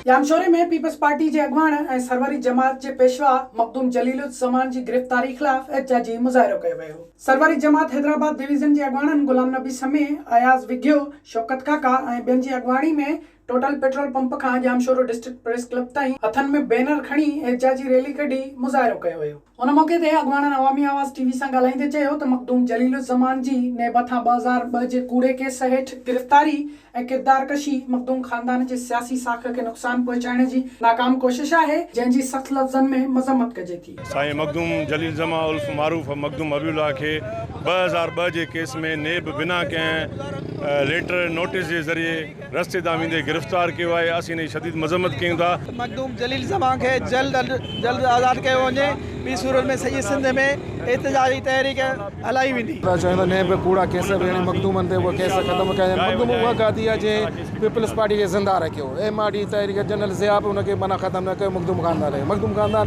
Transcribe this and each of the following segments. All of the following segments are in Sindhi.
ڄامشوري ۾ پيپلز پارٽي جي اڳواڻ ۽ سروري جماعت جي پيشوا مخدوم جليل الزمان جي گرفتاري خلاف احتجاجي مظاهرو ڪيو ويو. سروري جماعت حيدرآباد ڊويزن جي اڳواڻن غلام نبي سمي، اياز وگهيو، شوڪت ڪاڪا ۽ ٻين جي اڳواڻي ۾ ٽوٽل پيٽرول پمپ کان ڄامشورو ڊسٽرڪٽ پريس ڪلب تائين هٿن ۾ بينر کڻي احتجاجي ريلي ڪڍي مظاهرو ڪيو ويو. ان موقعي تي اڳواڻن عوامي آواز ٽي وي سان ڳالهائيندي چيو ته مخدوم جليل الزمان جي نيب هٿان ٻه هزار ٻه جي ڪوڙي ڪيس هيٺ گرفتاري ۽ ڪردار ڪشي مخدوم خاندان جي سياسي ساک کي نقصان پهچائڻ جي ناڪام ڪوشش آهي جنهن جي سخت لفظن ۾ مذمت ڪجي ٿي. سائين مخدوم جليل زمان الف معروف مخدوم حبيب الله کي ٻه هزار ٻه جي ڪيس ۾ نيب بنا ڪنهن ليٽر نوٽيس جي ذريعي، رستي تان ويندي گرفتار ڪيو آهي اسين ان جي شديد مذمت ڪيون ٿا. مخدوم جليل زمان کي جلد از جلد آزاد ڪيو وڃي ٻي صورت ۾ سڄي سنڌ ۾ احتجاجي تحريڪ هلائي ويندي. ته چوندو نيب به ڪوڙا ڪيس به هڻي مخدومن تي اهي ڪيس ختم ڪيا وڃن مخدوم اها گادي آهي جنهن پيپلز پارٽي کي زنده رکيو ايم آر ڊي تحريڪ جنرل ضياء به ان کي معنيٰ ختم نه ڪيو مخدوم خاندان رهيو مخدوم خاندان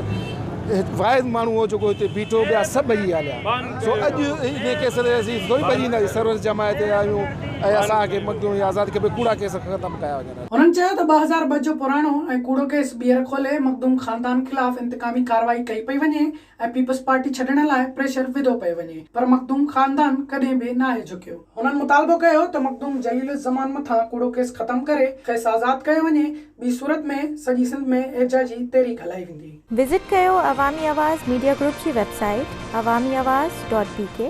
واحد ماڻهو هو جيڪو هتي بيٺو ٻيا سڀ ڀڄي هليا. سو اڄ انهي ڪيس تي اسين ٿوري ڀڄي ايندا جي سروس جماعت جا آهيون ۽ اسان کي مخدوم جي آزادي کپي ڪوڙا ڪيس ختم ڪيا وڃن اڄ. هنن چيو ته ٻه هزار ٻه جو پراڻو ۽ ڪوڙو ڪيس ٻيهر کولي مخدوم خاندان خلاف انتقامي ڪارروائي ڪئي پئي وڃي ۽ پيپلز پارٽي ڇڏڻ لاء پريشر وڌو پئي وڃي پر مخدوم خاندان ڪڏهن به ناهي جهڪيو. هنن مطالبو ڪيو ته مخدوم جليل الزمان مٿان ڪوڙو ڪيس ختم ڪري کيس آزاد ڪيو وڃي ٻي صورت ۾ سڄي سنڌ ۾ احجاجي تحريڪ هلائي ويندي. وزٽ ڪيو عوامي آواز ميڊيا گروپ جي website Awami Awaz dot بي ڪي.